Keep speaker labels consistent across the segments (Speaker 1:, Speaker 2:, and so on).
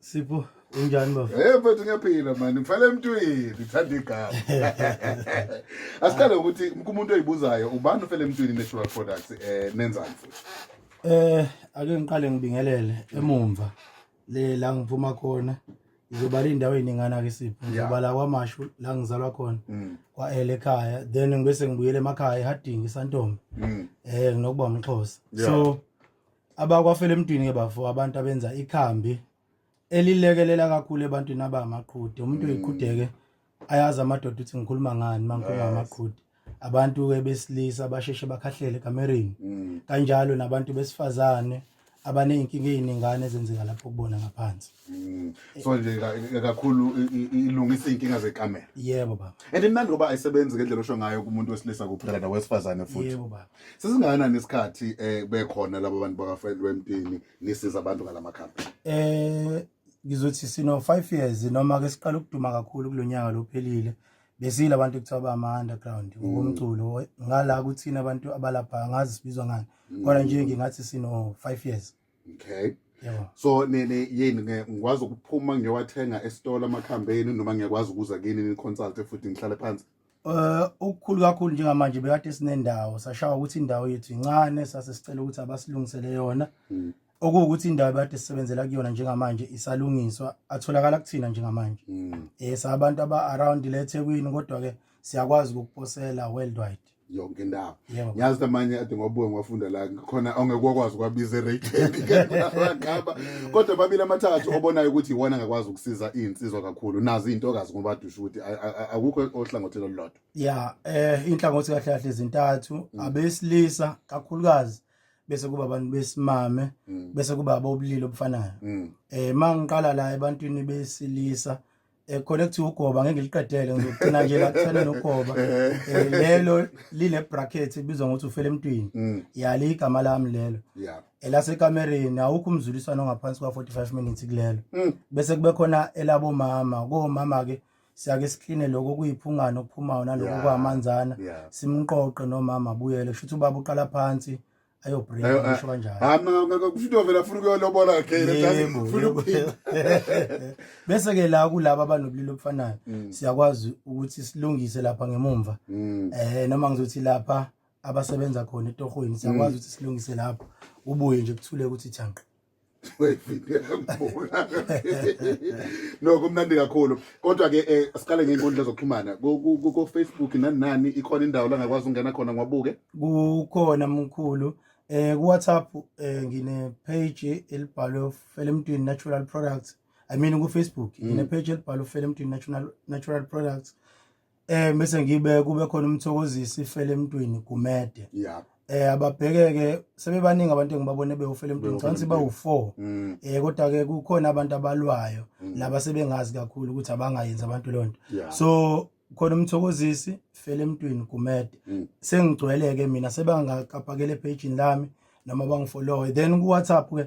Speaker 1: Sipho
Speaker 2: unjani bafo? Eh mfethu ngiyaphila
Speaker 1: mani ngifela emntwini ngithanda igama. Asiqale ukuthi umuntu oyibuzayo ubani ufela emntwini natural products eh nenzani futhi? Eh
Speaker 2: ake ngiqale ngibingelele emumva le la ngiphuma khona ngizobala indawo eningana ke sipho ngizobala kwamashu la ngizalwa khona mm. kwa ele ekhaya then ngibese ngibuyele emakhaya eHarding iSantombe mm. eh nginokuba umxhosa so Abakwafela emntwini-ke bafo abantu abenza ikhambi elilekelela kakhulu ebantwini abamaqhude umuntu mm. uyiqhudeke ayazi amadoda ukuthi ngikhuluma ngani uma ngikhuluma ngamaqhude abantu-ke besilisa basheshe bakhahlele ekamereni mm. kanjalo nabantu besifazane abaney'nkinga ey'ningane ezenzeka lapho kubona ngaphansi Mm. So nje
Speaker 1: ka- ka- kakhulu i- i- ilungisa iy'nkinga zekamera yebo baba and
Speaker 2: imnandi ngoba ayisebenzi
Speaker 1: ngendlela osho ngayo kumuntu wesilisa kuphela nawesifazane futhi yebo baba sesingakanani
Speaker 2: isikhathi
Speaker 1: um bekhona laba bantu bakafriend wempini nisiza abantu ngala makhambi eh
Speaker 2: ngizothi sino 5 years noma ke siqala ukuduma kakhulu kulonyaka lophelile besile abantu kuthiwa ba ama underground Mm. ngokomculo ngala kuthina abantu abalapha ngazi sibizwa ngani kodwa nje ngingathi sino 5 years okay
Speaker 1: Yebo. so
Speaker 2: nini
Speaker 1: yini nge- ngikwazi ukuphuma ngiyowathenga esitolo amakhambeni noma ngiyakwazi ukuza kini ni-consulte futhi ngihlale phansi Eh ukukhulu
Speaker 2: kakhulu njengamanje bekade sinendawo sashawa ukuthi indawo yethu incane sase sicela ukuthi abasilungisele yona Mm. okuwukuthi indawo bekade sisebenzela kuyona njengamanje isalungiswa atholakala kuthina njengamanje Mm. eh sabantu aba around le eThekwini kodwa ke siyakwazi ukukuposela worldwide yonke indawo
Speaker 1: Yebo. ngiyazi ukuthi amanye
Speaker 2: ade ngobuke
Speaker 1: ngiwafunda la khona ongeke wakwazi ukwabiza erekheni ngaba kodwa babili amathathu obonayo ukuthi iwona angakwazi ukusiza iy'nsizwa kakhulu nazo iy'ntokazi ngoba dusho ukuthi a- a- a- akukho ohlangothini olulodwa ya eh
Speaker 2: inhlangothi kahle kahle zintathu Mm. abesilisa kakhulukazi bese kuba abantu besimame Mm, bese kuba abobulili obufanayo mm, eh mangiqala la ebantwini besilisa eh khona kuthi ugoba ngeke ngiliqedele ngizocina nje la kuthana nogoba Eh, lelo line bracket ibizwa ngokuthi ufele emntwini Mm. yali igama lami lelo Yeah. elasekamereni awukho umzuliswano ngaphansi kwa 45 minutes kulelo Mm. bese kube khona elabo mama komama ke siyake sikline lokho kuyiphungana okuphumayo naloko Yeah. kwamanzana Yeah. simqoqe nomama abuyele kusho ukuthi ubaba uqala phansi ayobreak Ayo- ngisho kanjalo hayi mna ngeke ufuna uvela afuna
Speaker 1: ukuyolobola ngeke Yebo, ufuna yebo, ukuphila yebo.
Speaker 2: bese ke la kulaba abanobulili obufanayo Mm. siyakwazi ukuthi silungise lapha ngemumva Mm. eh noma ngizothi lapha abasebenza khona etohweni siyakwazi ukuthi silungise lapho ubuye nje kuthule ukuthi thanqa no kumnandi kakhulu kodwa ke eh, siqale ngey'nkundla zokuxhumana ko-facebook nani nani ikhona indawo la ngakwazi ukungena khona ngiwabuke kukhona mkhulu eh kuWhatsApp eh ngine page elibhalwe Felemtwini Natural Products I mean ku Facebook ngine mm. page elibhalwe Felemtwini Natural Natural Products eh bese ngibe kube khona umthokozisi ifele emntwini gumede yeah eh ababhekeke sebebaningi abantu engibabone bewufela emntwini ngicabanga bawu4 mm. eh kodwa ke kukhona abantu abalwayo mm. laba sebengazi kakhulu ukuthi abangayenzi abantu lonto so khona umthokozisi fele emntwini gumede mm. sengigcweleke mina sebangakapakele page lami noma bangifollowe then ku WhatsApp ke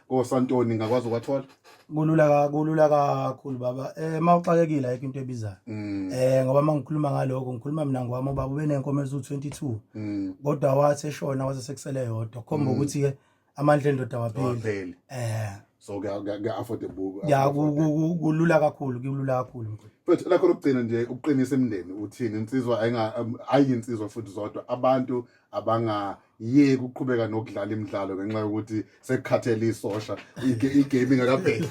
Speaker 1: kosantoni ngakwazi ukwathola kulula ka- kulula
Speaker 2: kakhulu baba eh uma uxakekile ayikho into ebizayo Mm, eh ngoba uma ngikhuluma ngaloko ngikhuluma mina ngowami ubaba ube nenkomo eziwu-22 mm, kodwa wathi eshona waze sekusele yodwa khomba ukuthi-ke amandla endoda wapheli awapheli eh so kuya-
Speaker 1: kuya- kuya-affordable ya ku- ku- ku- kulula
Speaker 2: kakhulu kulula kakhulu mkhulu futhi lakho lokugcina
Speaker 1: nje ukuqinisa imindeni uthini insizwa ayinga- um, ayi insizwa futhi zodwa abantu abanga yeke ukuqhubeka nokudlala imidlalo ngenxa yokuthi sekukhathele isosha igame
Speaker 2: ingakabheki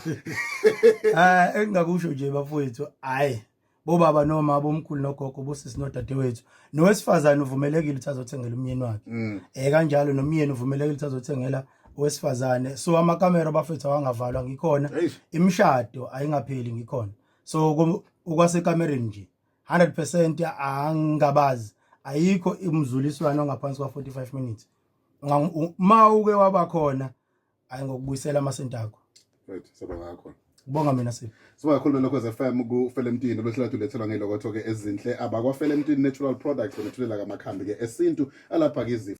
Speaker 2: ah engingakusho nje
Speaker 1: bafowethu
Speaker 2: hayi bobaba noma abomkhulu nogogo bosisi nodadewethu nowesifazane uvumelekile ukuthi azothengela umyeni wakhe mm. eh kanjalo nomyeni uvumelekile ukuthi azothengela owesifazane so amakamera bafethu awangavalwa ngikhona imishado ayingapheli ngikhona so okwasekamereni nje 100% angabazi ayikho imzuliswano ngaphansi kwa 45 minutes uma uke waba khona ayi ngokubuyisela amasenti akho right saba ngakho
Speaker 1: Kubonga mina sipho.
Speaker 2: Siba kakhulu lokho
Speaker 1: FM ku Felemtini lwethola tulethelwa ngelokotho ke ezinhle abakwa Felemtini Natural Products benethulela kamakhambi ke esintu alapha ke izifo